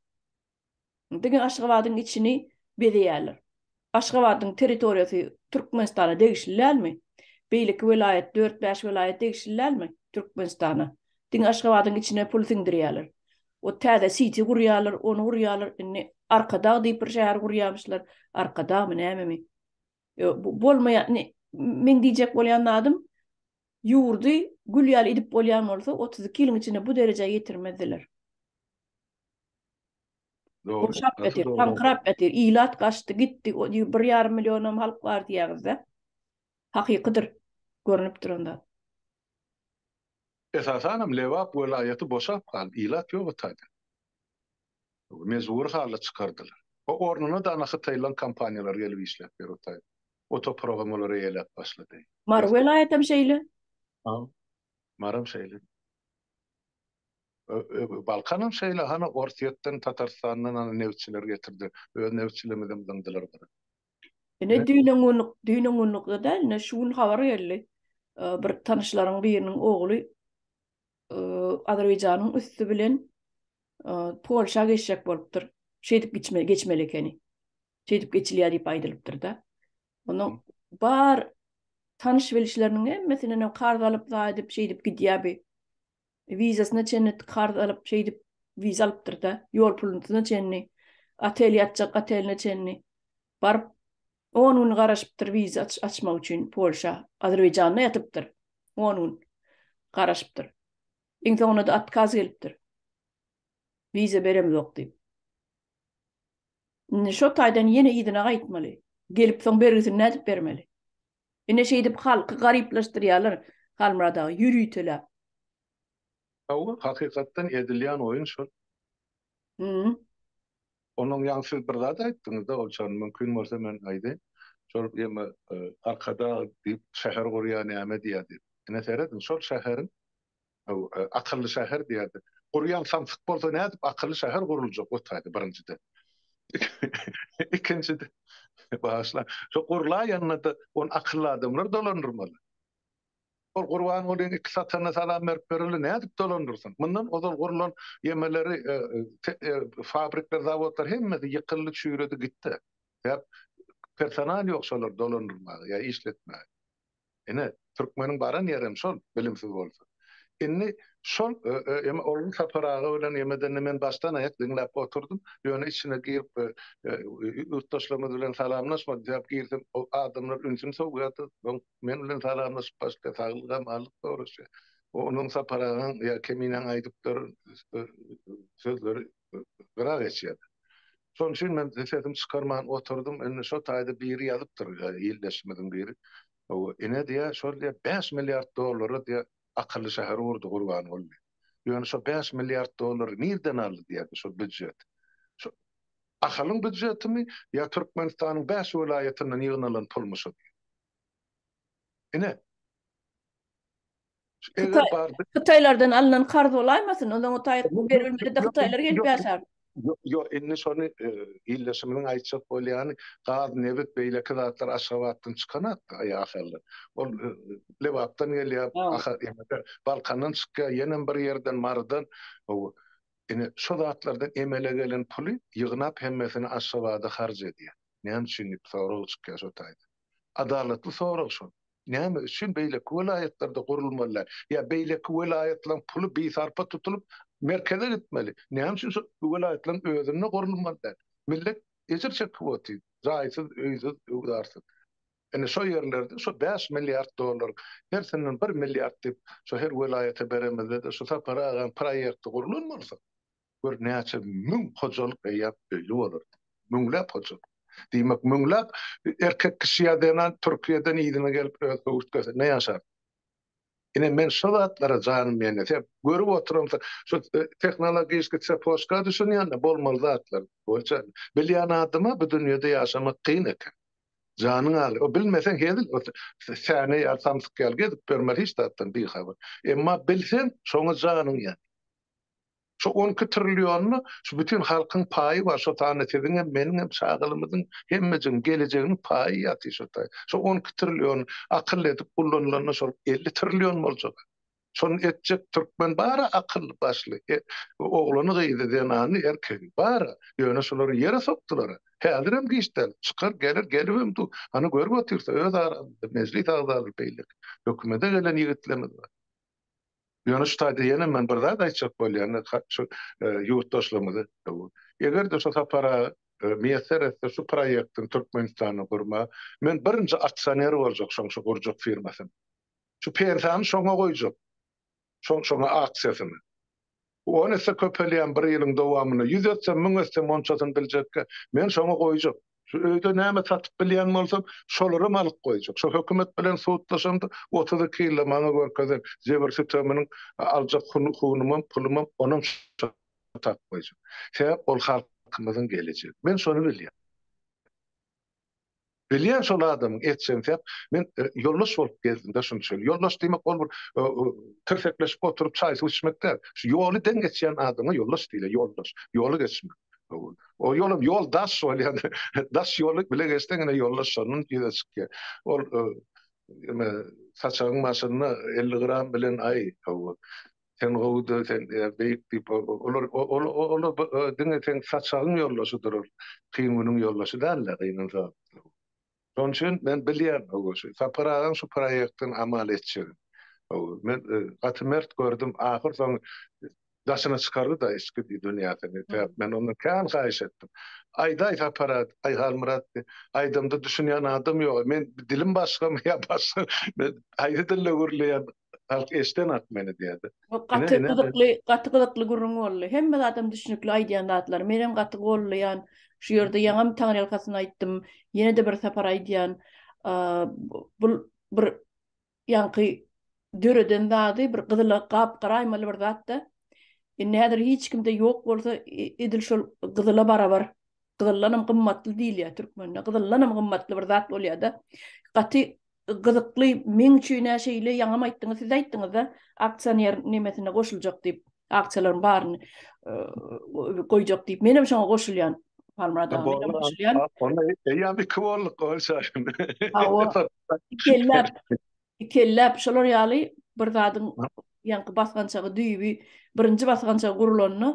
diňe Aşgabadyň içini bezeýärler. Aşgabadyň territoriýasy Türkmenistana degişli dälmi? Beýleki welaýat, dört-bäş welaýat degişli dälmi Türkmenistana? Diňe Aşgabadyň içine pul siňdirýärler. O täze siti gurýarlar, ony gurýarlar, indi Arkadag diýip bir şäher gurýamyşlar, Arkadagmy, nämemi? Bu bolmaýan, indi meň diýjek bolýan zadym, ýurdy gül ýaly edip bolýan bolsa, otuz iki ýylyň içinde bu derejä ýetirmezdiler. Gurşap ýatyr, taňkyrap ýatyr. Ilat gaçdy, gitdi. Bir ýarym millionam halk bar diýýäňiz-dä. Hakykydyr, görnüp duran zat. Esasanam Lebap welaýaty boşap galdy, ilat ýok o taýda. Mejbury halda çykardylar. O ornuna dana hytaýlaryň kompaniýalary gelip işläp ýör o taýda. O topragam olar eýeläp başlady. Mary welaýatam şeýle. Maram şeýle. Balkanam şeýle hany Orsýetden Tatarstandan hany nebtçiler getirdi öz nebtçilerimizem zyňdylar bir. Ine düýnen gün düýnen gündikde däl ine şu gün habar geldi bir tanyşlaryň biriniň ogly Azerbaýjanyň üsti bilen Polşa geçjek bolupdyr şeýdip geçmeli ekeni şeýdip geçilýär diýip aýdylypdyr da Onda bar tanyş bilişleriniň hemmesinden hem karz alyp zaýdyp şeýdip gidýär bi. Wizasyna çenli karz alyp şeýdip wiza alypdyr da, ýol pulunyna çenli, otel ýatjak oteline çenli baryp on gün garaşypdyr wiza açmak üçin Polşa, Azerbaýjanda ýatypdyr on gün garaşypdyr. Iň soňunda otkaz gelipdir. Wiza beremzok diýip. Indi şo taýdan ýene yzyna gaýtmaly. Gelip soň bergisini nädip bermeli? Ine şeýdip halky garyplaşdyrýalar Halmyrat aga ýöriteläp. Hawa, hakykatdan edilýän oýun şol. Hümm. Onuň ýaňy siz bir zat aýtdyňyzda Oljan, mümkin bolsa men aýdaýyn. Şol ýeme Arkadag diýip şäher gurýar näme diýýär diýip. Ine serediň, şol şäheriň Akylly şäher diýerdi. Gurýan samsyk bolsa nädip akylly şäher guruljak otaýdy birinjiden. Ikinjiden, bagyşlaň, şo gurlaýanyna-da ony akylly adamlar dolandyrmaly. Ol Gurbangulyň iki sataryna salam berip bereli nädip dolandyrsyn? Mundan ozal gurlan ýemeleri, fabrikler, zawodlar hemmesi ýykyldy, çüýredi gitdi. Sebäp personal ýok şolary dolandyrmaga ýa işletmäge. Ine, türkmeniň baran ýeri hem şol, bilimsiz bolsa. Indi şol eme Ogul Sapar aga bilen emedende men başdan-aýak diňläp oturdym. Ýöne içine girip ýurtdaşlarymyz bilen salamlaşmadyk däp girsem, o adamlar ünsüni sowýardy. Soň men bilen salamlaşyp başlaýar, saglyk-amanlyk soraşýar. Onuň Sapar agaň ýa Keminäň aýdypdyr sözleri gyra geçýärdi. Şonuň üçin men sesimi çykarman oturdym. Indi şo taýda biri ýazypdyr, ildeşimiziň biri. Hawa, ine diýýär, şol diýýär, bäş milliard dollara diýýär, akylly şäher gurdy Gurbanguly. Ýöne şo bäş milliard dollary nirden aldy diýýär biz şo býujet? Şo Ahalyň býujetimi ýa Türkmenistanyň bäş welaýatyndan ýygnalan pulmy şo diýýär. Ine. Eger bardy. Hytaýlardan alnan karz bolaýmasyn? Ondan o taýy berilmedi-de hytaýlar gelip ýaşar. Ýok, indi şony ildeşimiziň aýtjak bolýany, gaz, nebit, beýleki zatlar Aşgabatdan çykanok-da, eý Ahalda. Ol Lebapdan gelýär, Balkandan çykýar, ýenem bir ýerden, Marydan. Hawa. Ine, şo zatlardan emele gelen puly ýygnap hemmesini Aşgabada harç edýär. Näme üçin diýip sorag çykýar şo taýdan. Adalatly sorag şol. Näme üçin beýleki welaýatlarda gurulmaly däl? Ýa beýleki welaýatlaryň puly bisarpa tutulyp, merkeze gitmeli? Näme üçin şol welaýatlaryň özünde gurulmaly däl? Millet ejir çekip otyr, jaýsyz, öýsüz, öwzarsyz. Ine, şo ýerlerde şo bäş milliard dollar, hersinden bir milliard diýip, şo her welaýata beremizde-de, şu Sapar agaň proýekti gurlan bolsa, Gör, näçe müň hojalyk eýýäm öýli bolardy. Müňläp hojalyk. Diýmek, müňläp erkek kişi ýa zenan Türkiýeden yzyna gelip, öz höwürtgesinde ýaşardy. Ine, men şo zatlara janym ýenese, görüp oturamsoň, şu tehnologiýski tsepožka düşünýän-de, bolmaly zatlar boýunça. Bilýän adama bu dünýede ýaşamak kyn eken. Janyň agyr. O bilmeseň hezil, o säne ýaly, samsyk ýaly gezip ýörmeli, hiç zatdan bihabar. Emma bilseň, şoňa janyň ýanýar. Şu on iki trillionda şu bütin halkyň paýy bar, şo sanda siziňem, meniňem, çagalymyzyň, hemmejigiň gelejeginiň paýy ýatyr şo taý. Şo on iki trillion akylly edip ullanylanda şol elli trillion boljak. Şony etjek türkmen bar-a akylly başly, oglany-gyzy, zenany, erkegi bar-a. Ýöne şulary ýere sokdular-a. Häzirem giç däl. Çykar, geler, gelibem dur. Hany görüp otyrys-a öz aramyzda mejlis agzalary beýleki. Hökümede gelen ýigitlerimiz bar. Ýöne şu taýda ýene men bir zat aýtjak bolýan, şu ýurtdaşlarymyza. Eger-de şu sapara miýesser etse şu proýektiň Türkmenistanda gurma, men birinji aksioner boljak şoň şu gurjak firmasynyň. Şu pensiýany şoňa goýjak. Şoň şoňa aksiýasyny. Bu on esse köpelýän bir ýylyň dowamynda ýüz etsem, müň etsem onçasyny biljekkä, men şoňa goýjak. Şu öýde näme satyp bilýän bolsam, şolaram alyp goýjak. Şo hökümet bilen sudlaşamda otuz iki ýylda maňa görkezen jebir-süteminiň aljak hunumam, pulumam onam şa tap goýjak. Sebäp ol halkymyzyň gelejegi. Men şony bilýän. Bilýän şol adamyň etjegini säp, men ýoldaş bolup gezdimde şunça. Ýoldaş diýmek ol bir tirsekleşip oturyp çaý suw içmek däl. Şu ýoly deň geçýän adama ýoldaş diýilýär, ýoldaş, ýoly geçmek. Ol ýolam ýol daş bolýar, daş ýoly bile geçseň ine ýoldaş şondan ýüze çykýar. Ol saçagyň başynda elli gram bilen aý, hawa, Sen gowuda sen beýik diýip olar olar diňe seň saçagyň ýoldaşydyr ol kyn günüň ýoldaşy dälde gynan sagatda bu. Şonuň üçin men bilýän hawa şu Sapar agaň şu proýektin amal etjegin. Hawa men gaty mert gördüm ahyr soňy daşyna çykardyda içki dünýäsini sebäp men ondan kän haýyş etdim. Aýdaý Sapar aý Halmyrat aýdamda düşünýän adam ýoga men dilim başgamy ýa başga men haýsy dilde gürleýän halk eşden ak meni diýdi. Gaty gyzykly, gaty gyzykly gürrüň boldy. Hemme zadam düşnükli aýdýan zatlar. Menem gaty gollaýan. Şu ýerde ýaňam taňryýalkasyn aýtdym. Ýene-de bir sapar aýdýan. Bu bir ýaňky döreden zady bir gyzyl gap-garaýmaly bir zatda. Indi häzir hiç kimde ýok bolsa edil şol gyzyla barabar. Gyzyldanam gymmatly diýilýär türkmende. Gyzyldanam gymmatly bir zat bolýar-da. Gaty Gyzykly meň üçinä şeýle ýaňam aýtdyňyz siz aýtdyňyzda aksioner nemesine goşuljak diýip aktiýalaryň baryny goýjak diýip menem şoňa goşulýan Halmyrat aga menem goşulýan onda eýýäm iki bolduk ol şaşyn ikelläp ikelläp şolar ýaly bir zadyň ýaňky basgançagy düýbi birinji basgançagy gurulanda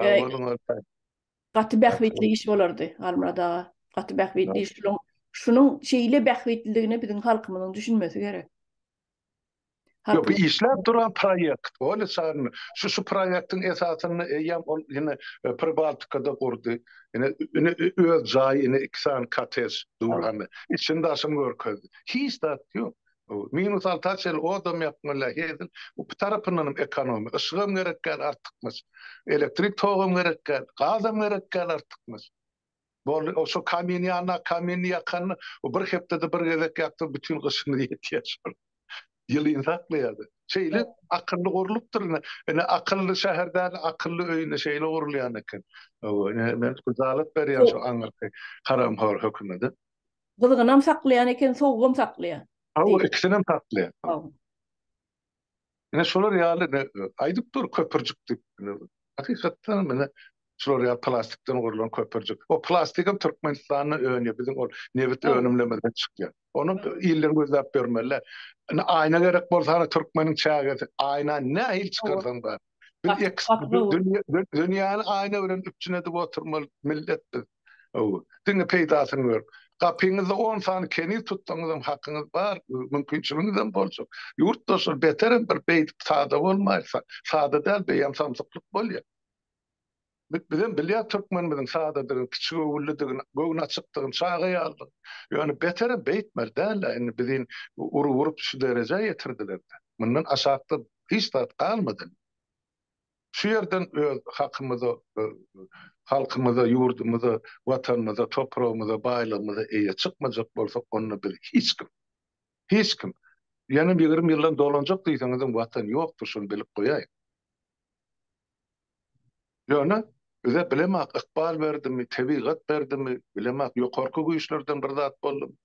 Sag Eý, boluň Oltan. gaty bähbitli iş bolardy, Halmyrat aga. Gaty bähbitli iş. Şunuň, şunuň şeýle bähbitliligine biziň halkymyzyň düşünmesi gerek. Ýok, Halkym bu işläp duran proýekt. Ony çagyrma. Şu, şu proýektiň esasynda eýýäm ol ýene e, Pribaltikada gurdy. Ine, ine ö- öz jaýy, ine iki sany kottej dur, hany. Içini-daşyny görkezdi. Hiç zat ýok. Minus alty açyl odam ýakmaly hezil bu tarapyndanam ekonomi yşygam gerek däl artykmaç elektrik togam gerek däl gazam gerek däl artykmaç boldy o şo kamin ýanyna kamin ýakanda o bir hepdede bir gezek ýakdyr bütin gyşyňyz ýetýär şol ýylyny saklaýar şeýle akylly gurlupdyr ine ine akylly şäher däl akylly öý ine şeýle gurulýan eken men kuzalyk berýän şu aňyrky haramhor hökümede. Gyzgynam saklaýan eken, sowugam saklaýan. Hawa, ikisinem saklaýan. Hawa. Ine şolar ýaly aýdyp dur köpürjik diýip. Hakykatdan hem ine şular ýaly plastikden gurlan köpürjik. O plastigem Türkmenistanda önýär. Biziň ol nebit önümlemizden çykýar. Ony iller gözläp ýörmeliler. Indi aýna gerek bolsa hany türkmeniň çägesi. Aýna nähili çykarsaň bar. Dünýäni aýna bilen üpjün edip oturmaly millet biz. Diňe peýdasyny görüp. Gapyňyzda on sany keniz tutsaňyzam hakyňyz bar, mümkinçiligiňizem bolsa. Ýurtdaşlar beterem bir beýdip sada bolmaýsa, sada däl beýem samsyklyk bolýar. Biz bizem bilýäs türkmenimiziň sadadygyny, kiçigöwünlidigini, göwni açykdygyny, çaga ýalydygyny. Ýöne beterem beýtmeli dälä indi bizi urup-urup şu derejä ýetirdiler-de. Mundan aşakda hiç zat galmady indi. Şu ýerden öz hakymyza, halkymyza, ýurdumyza, watanymyza, topragymyza, baýlygymyza eýe çykmajak bolsak onda biz hiç kim. Hiç kim. Ýenem ýigrimi ýyldan dolanjak diýseňizem watan ýokdur şuny bilip goýaýyň. Ýöne, bize bilemok ykbal berdimi, tebigat berdimi, bilemok ýokarky güýçlerden bir zat boldumy,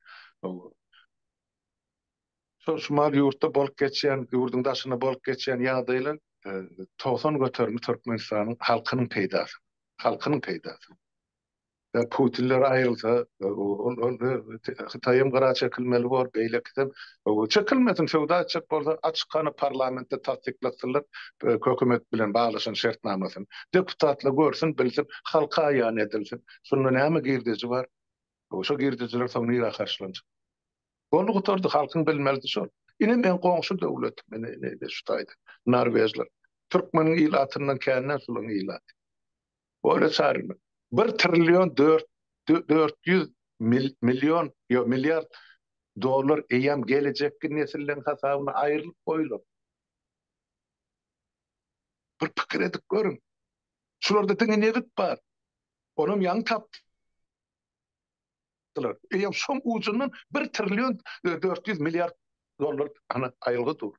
şol şumal ýurtda bolup geçýän, ýurduň daşynda bolup geçýän ýagdaýlar togsan göterimi Türkmenistanyň halkynyň peýdasyna, halkynyň peýdasyna. Ýa putinler aýrylsa Hytaýam gyra çekilmeli bor beýlekisem çekilmesin söwda etjek bolsa açyk hany parlamentde tassyklatsynlar hökümet bilen baglaşan şertnamasyny deputatlar görsün bilsin halka aýan edilsin şunda näme girdeji bar şo girdejiler soň nirä harçlanjak boldy gutardy halkyň bilmelisi şol ine meň goňşy döwletim ine şu taýda norwežler türkmeniň ilatyndan kände şularyň ilaty. Bolesar bir trillion dört dört ýüz million ýok milliard dollar eýýäm gelejekki nesilleriň hasabyna aýrylyp goýulan. Bir pikir edip görüň. Şularda diňe nebit bar. Onam ýaňy tapdy. aýtdylar. Eýýäm şoň ujundan bir trillion dört ýüz milliard dollar aýylgy dur.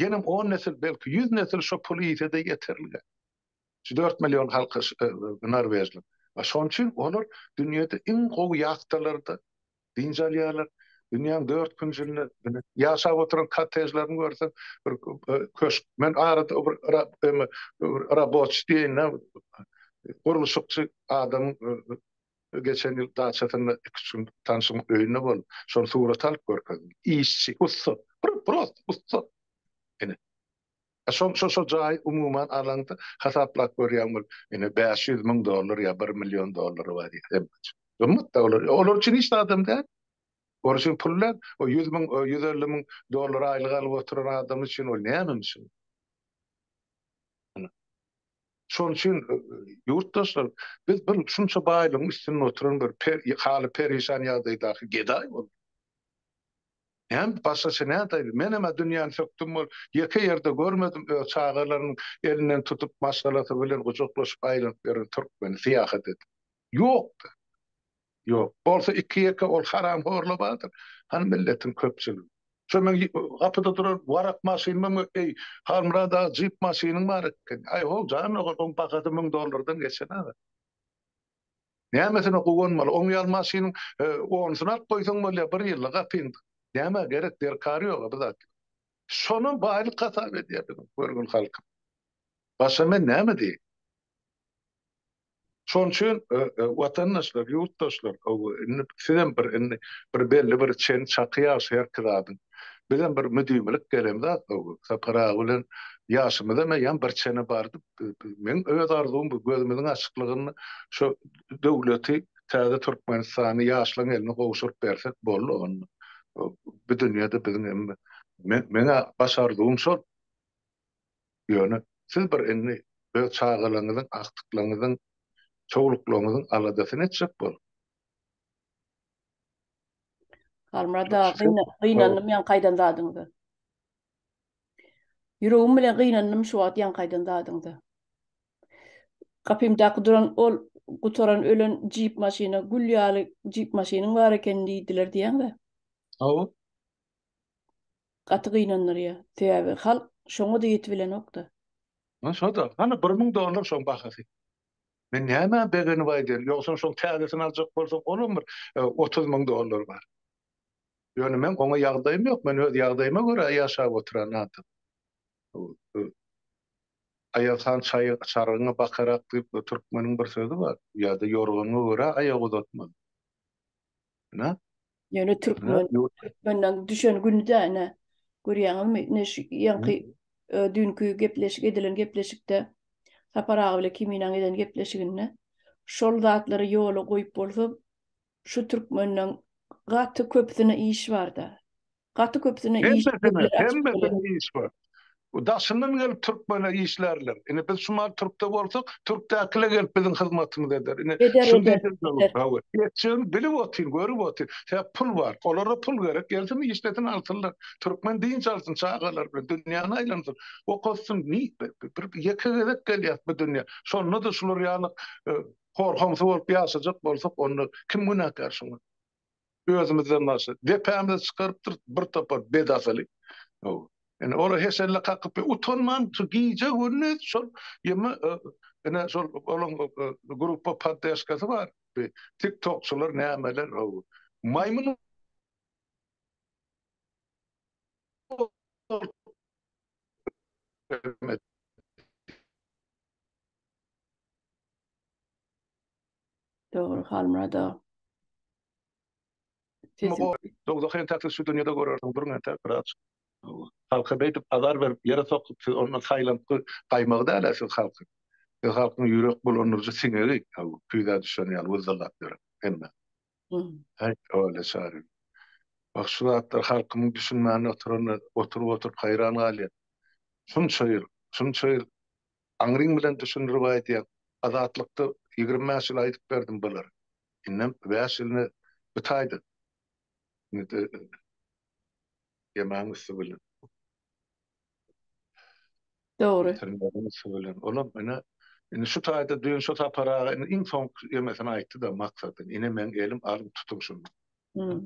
Ýenem on nesil, belki ýüz nesil şo puly iýse-de ýeterlik-ä. Şu dört million halky norwežliň. Şonuň üçin olar dünýede iň gowy ýahtalarda dynç alýarlar. Dünýäň dört künjünde ýaşap oturan kottejlerini görseň, bir köşk. Men arada bir raboçi diýeýin-ä, gurluşykçy adamyň geçen ýyl daçasynda iki-üç gün tanşymyň öýünde boldum. Şony surata alyp görkezdim. Işçi, ussat, prosta ussat. Ine, Şol şol jaýy umuman alaňda hasaplap görýän bol. Ine bäş ýüz müň dollar ýa bir million dollary bar diýip hemmesi. Gymmat da olar. Olar üçin hiç zadam däl. Olar üçin pul däl. O ýüz müň ýüz elli müň dollar aýlyk alyp oturan adam üçin ol näme misal. Şonuň üçin ýurtdaşlar biz bir şunça baýlygyň üstünde oturan bir haly perişan ýagdaýdaky gedaý bolduk. Hem başgaça nätaýyn, menem-ä dünýäni sökdüm bol, ýeke ýerde görmedim öz çagalarynyň elinden tutup, maşgalasy bilen gujaklaşyp aýlanyp ýören türkmeni, syýahat edip. Ýok-da. Ýok. Bolsa iki-ýeke ol haramhorlar bardyr, hany milletiň köpçüligi. Şo meň gapyda duran warak maşynyma mü, eý, Halmyrat aga, jip maşynyň bar eken. Aý, ho, jan ogal, oň bahasy müň dollardan geçen aga. Nämesine guwanmaly oň ýaly maşynyň onusyny alyp goýsaň bolýa bir ýyllyk gapyň nämä gerek derkary ýoga bu zat ýok. Şonam baýlyk hasap edýä biziň görgün halkym. Başga men näme diýeýin. Şoň üçin watandaşlar ýurtdaşlar indi sizem bir indi bir belli bir çen çaky ýaşy herki zadyň bizem bir müdimilik gelen zat Sapar aga bilen ýaşymyzam eýýäm bir çene bardy. Meň öz arzuwym bu gözümiziň açyklygyny şu döwleti täze Türkmenistany ýaşlaň eline gowşuryp bersek boldy onda bu dünýede biziň hem meň-ä baş arzuwym şol. Ýöne siz bir indi öz çagalaňyzyň, agtyklaňyzyň, çowluklaňyzyň aladasyny etjek boluň. Halmyrat aga gynandym ýaňky aýdan zadyňyza. Ýüregim bilen gynandym şu wagt ýaňky aýdan zadyňda. Gapymdaky duran ol gutaran ölen jip maşyna gül ýaly jip maşynyň bar ekeni diýdiler diýýäňdä. Hawa. Gaty gynandyrýar. Sebäbi halk şoňa-da ýetibilenok-da. Hä şo-da. Hany bir müň dollar şoň bahasy. Men nämä begenip aýdaýyn. Ýogsam şoň täzesini aljak bolsaň olam bir otuz müň dollary bar. Ýöne meň oňa ýagdaýym ýok, men öz ýagdaýyma görä ýaşap oturan adam. Aýaz han çaý çargyňy bakarak diýip bir türkmeniň bir sözi bar. Ýa-da ýorganyňa görä aýak uzatmaly. Ine. Ýöne türkmen, türkmenden düşen güni-dä ine. Görýäňizmi, ine şu ýaňky düýnki gepleşik edilen gepleşikde Sapar aga bilen Kiminäň eden gepleşiginde şol zatlary ýola goýup bolsa Şu türkmenden gaty köpüsine iş barda. Gaty köpüsine iş ýerleri açyp bolýar. Hemmesine iş bar. Daşyndan gelip türkmene işlärler. Ine biz şu mahaly türkde bolsak, türkdäkiler gelip biziň hyzmatymyzy eder. Ine şuny diýjek. Etjegini bilip otyr, görüp otyr. Sebäp pul bar. Olara pul gerek. Gelsin işlesin alsynlar. Türkmen dynç alsyn çagalary bilen dünýäni aýlansyn. Okasyn. Ýeke gezek gelýäs bu dünýä. Şonda-da şular ýaly Horhamsy bolup ýaşajak bolsak onda kim günäkär şuňa? Özümizden başla. Depämize çykarypdyr bir topar bedasyly. Hawa. Ine olar heşelle kakyp utanman şu gije gündiz şol ýeme ine şol olaň gruppa poddeşkasy bar. Tik tokçylar nämeler hawa. Maýmyn Dogry Halmyrat aga. Dogzah entek siz şu dünýede görersiňiz duruň entek biraz. Halka beýdip azar berip ýere sokup siz onda saýlantgy gaýmagy dälä siz halky. Siz halkyň ýürek bulandyryjy siňegi küýzä düşen ýaly wyzzylap ýören hemme. Haý, howala çary. Wah, şu zatlar halkymyň düşünmän oturanyna oturyp-oturyp haýran galýan. Şunça ýyl, şunça ýyl aňryň bilen düşündirip aýdýaň. Azatlykda ýigrimi bäş ýyl aýdyp berdim bulary. Indem bäş ýylyny bu taýdan. Indi-de ýemäň üsti bilen. Dogry. Olam ine indi şu taýda düýn şu Sapar aga indi iň soňky ýemesini aýtdy-da Maksatyn ine meň elim alyň tutuň şuny.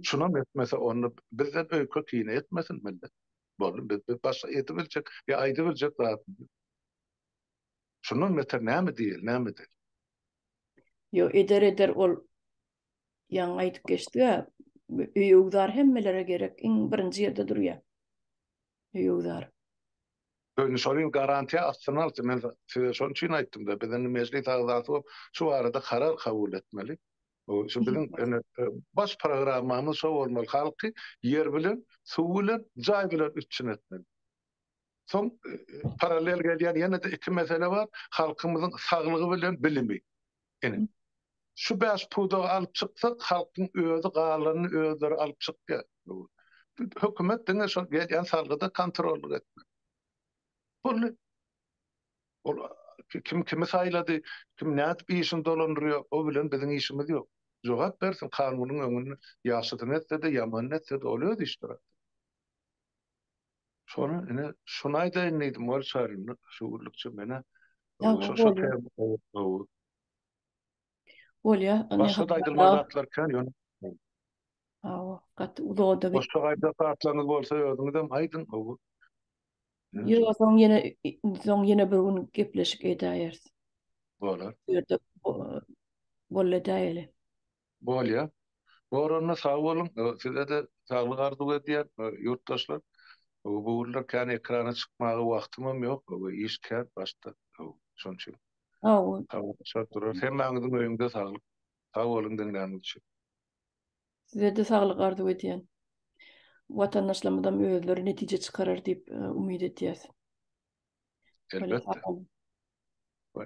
Şunam etmese onda bizden öýke kine etmesin millet. Boldy biz biz başga edibiljek ýa aýdybiljek zadymyz ýok. Şundan beter näme diýeli näme edeli. Ýok eder eder ol ýaňy aýdyp geçdi-ä öýügzar hemmelere gerek iň birinji ýerde durýar. höwesdar. Öýüni şol ýyl garantiýa astyna alsyn. Men size şonuň üçin aýtdym-da, biz indi mejlis agzasy bolup, şu barada karar kabul etmeli. Şu biziň indi baş programmamyz şo bolmaly, halky ýer bilen, suw bilen, jaý bilen üpjün etmeli. Soň parallel gelýän ýene-de iki mesele bar, halkymyzyň saglygy bilen bilimi. Ine, şu bäş pudagy alyp çyksak, halkyň özi galanyny özleri alyp çykýar. Hökümet diňe şol gelýän salgyda kontrollyk etmeli. Boldy. Ol kim kimi saýlady, kim nädip işini dolandyrýar, o bilen biziň işimiz ýok. Jogap bersin kanunyň öňünde, ýagşysyny etse-de, ýamanyny etse-de, ol öz işdir. Şony ine şony aýdaýyn diýdim ol çarynda şu gürlükçe menä. Şo täm gowy. Bolýa. Başga aýdylmaly zatlar kän ýöne. Hawa, gaty uzoda git. Başga aýdylmaly zatlaryňyz bolsa özüňizem aýdyň gowy. Ýöne soň ýene soň ýene bir gün gepleşik edäýeris. Bolar. Ýerde bolly edäýeli. Bolýa. Goranyna sag boluň. Sizede saglyk arzuw edýän ýurtdaşlar. Bu günler kän ekrana çykmaga wagtymam ýok. Iş kän başda. Şonuň üçin. Habarlaşardyr. Hemmäňiziň öýüňde saglyk. Sag boluň diňläniňiz üçin. Sizede saglyk arzuw edýän. Watandaşlarymyzam özleri netije çykarar diýip umyt edýäs. Elbetde.